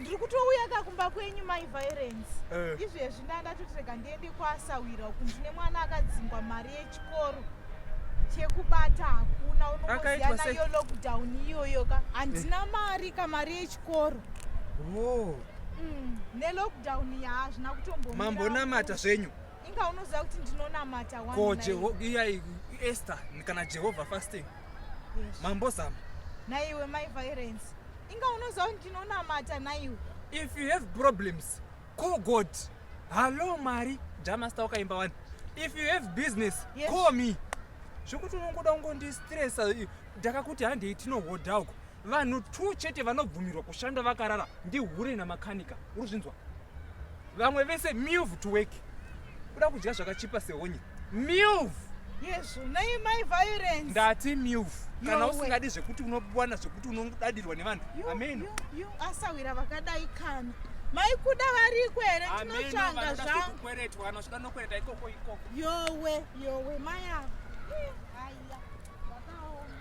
ndiri kutouya ka kumba kwenyu mai violence eh. izvezvi ndaa ndatoti rega ndiende kwasawira uku ndine mwana akadzingwa mari yechikoro chekubata hakuna unoziana iyo lockdown iyoyo ka handina eh. mari ka mari yechikoro oh. mm, nelockdown yaazvina kutombomambonamata zvenyu inga unoziva kuti ndinonamata ko iyai ester kana jehovha fasting mambozama naiwe mai violence inga unoziva kuti ndinonamata naiwe if you have problems call god hallo mari jamasta wakaimba wani if you have business yes. call me zvekuti unongoda kungondistresa ndakakuti handei tinohodha uko vanhu two chete vanobvumirwa kushanda vakarara ndihure namakanika uri zvinzwa vamwe vese move to work kuda kudya zvakachipa sehonye move yesu nei mai violence ndati move kana usingadi zvekuti unowana zvekuti unodadirwa nevanhu ameno asawira vakadai kana mai kuda variko here ndinotsvanga zvangukweretwa anozoda nokwereta ikoko ikoko yowe yowe mai ava